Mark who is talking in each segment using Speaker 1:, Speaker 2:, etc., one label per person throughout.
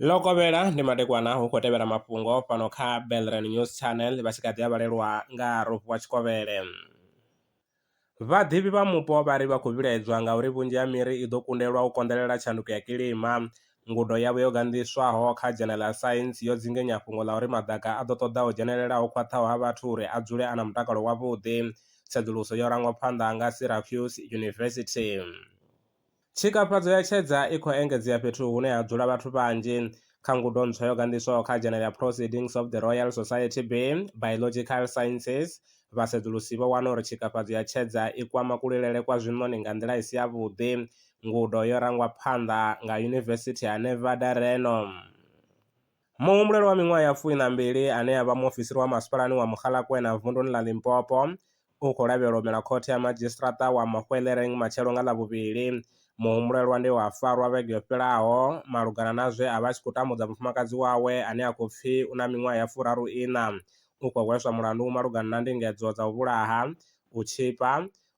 Speaker 1: ḽo kovhela ndi madekwana hu khou tevhela mafhungo fhano kha belran news channel vha tshi kha ḓi a vhalelwa nga rofu wa tshikovhele vhaḓivhi vha mupo vha ri vha khou vhilaedzwa ngauri vhunzhi ha miri i ḓo kundelwa u konḓelela tshanduko ya kilima Ngudo yavho yo ganḓiswaho kha dzhena ḽa Science yo dzinginya fhungo ḽa uri maḓaka a ḓo ṱoḓa ho dzhenelela ho khwaṱhaho ha vhathu uri a dzule a na mutakalo wavhuḓi. Tsedzuluso yo rangwa phanḓa nga Syracuse University. Tshikafhadzo ya tshedza i khou engedzea fhethu hune ha dzula vhathu vhanzhi. Kha ngudo ntswa yo ganḓiswaho kha dzhena ḽa Proceedings of the Royal Society B, Biological Sciences, vhasedzulusi vho wana uri tshikafhadzo ya tshedza i kwama kulilele kwa zwiṋoni nga nḓila i si yavhuḓi, Ngudo yo rangwa phanḓa nga Yunivesithi ya Nevada Reno. Muhumbulelwa wa miṅwaha ya fumi na mbili ane a vha muofisiri wa masipalani wa Mogalakwena vunduni ḽa Limpopo u khou lavhelelwa u mela khothe ya madzhisiṱiraṱa wa Mahwelereng matshelo nga Ḽavhuvhili. Muhumbulelwa ndi we a farwa vhege yo fhelaho malugana na zwe a vha a tshi khou tambudza mufumakadzi wawe ane a khou pfi u na miṅwaha ya furaru-iṋa. U khou hweswa mulandu malugana na ndingedzo dza u vhulaha, u tshipa,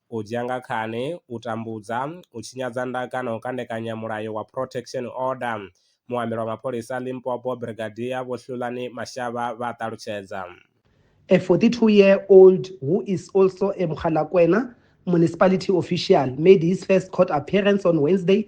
Speaker 1: u dzhia nga khani, u tambudza, u tshinyadza ndaka na u kandekanya mulayo wa Protection Order, muambeli wa mapholisa Limpopo Brigadier Vho Hlulani Mashaba vha a ṱalutshedza. A
Speaker 2: 42 year old who is also a Mogalakwena municipality official made his first court appearance on Wednesday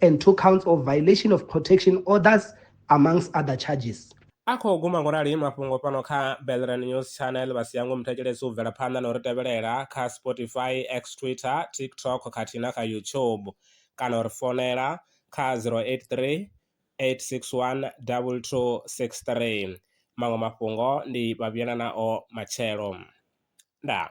Speaker 2: and two counts of violation of protection orders amongst other charges. A khou guma ngo rali
Speaker 1: mafhungo fhano kha Belran News Channel vha siya ngo muthetshelesi u bvela phanḓa na u ri tevhelela kha Spotify, X Twitter, TikTok khathihi na kha YouTube kana u ri fonela kha 083 861 2263. Maṅwe mafhungo ndi vha vhuyela nao matshelo. Ndaa.